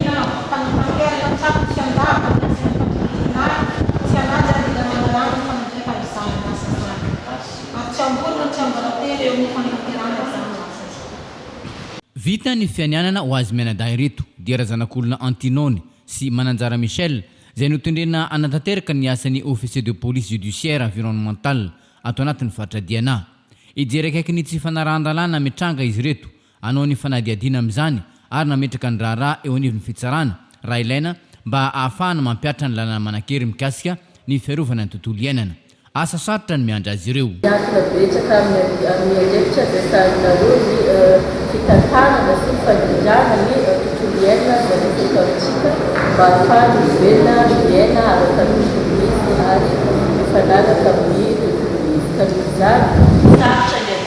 Tena mampita ny mpampiely fa tsy afaka tsy handava ny asa ny fatoriana ahy sy hanaja ny tena mahalala ny fanatrefa izany asa izany. Ary tsy ambory no tsy ambaratery eo amin'ny fanatanterahana izany ho asa izany. Vita ny fianianana ho azy mianadahy ireto dia razanak'olona Antinone sy Mananjara Michel izay notendrena hanatanteraka ny asan'ny Officier de Police Judiciaire Environnementale ato anatin'ny faritra Diana. Hijery akaiky ny tsy fanarahan-dalàna mitranga izy ireto hanao ny fanadihadiana amin'izany ary nametraka ny raharaha eo anivon'ny fitsarana, raha ilaina, mba hahafahana mampihatra ny lalana manan-kery mikasika ny fiarovana ny tontolo iainana. Asa sarotra no miandry azy ireo. Miankina betsaka amin'ny amin'ny andraikitra ampiasainareo ny fitantanana sy ny fandrindrana ny tontolo iainana no napetraka amintsika mba hahafahana mivelona ary miaina ara-kanosa ny izy ary mifanaraka amin'ny tontolo izy. Ka noho izany, sarotra ny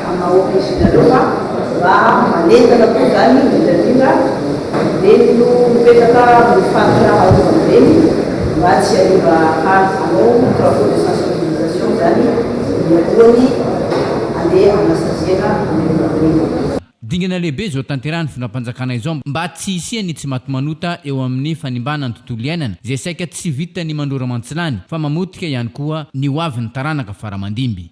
hanao akory ianareo fa raha manentana koa izany indrindra indrindra ireny no mipetraka amin'ny faritra arovana ireny mba tsy hariva hany hanao travaux de sensibilisation izany mialohan'ny handeha hanasaziana an'ireo mpanohitra. Dingana lehibe izao tanterahan'ny fitondram-panjakana izao mba tsy hisian'ny tsimatimanota eo amin'ny fanimbana ny tontolo iainana izay saika tsy vitan'ny mandrora mantsilany fa mamotika ihany koa ny hoavin'ny taranaka faramandimby.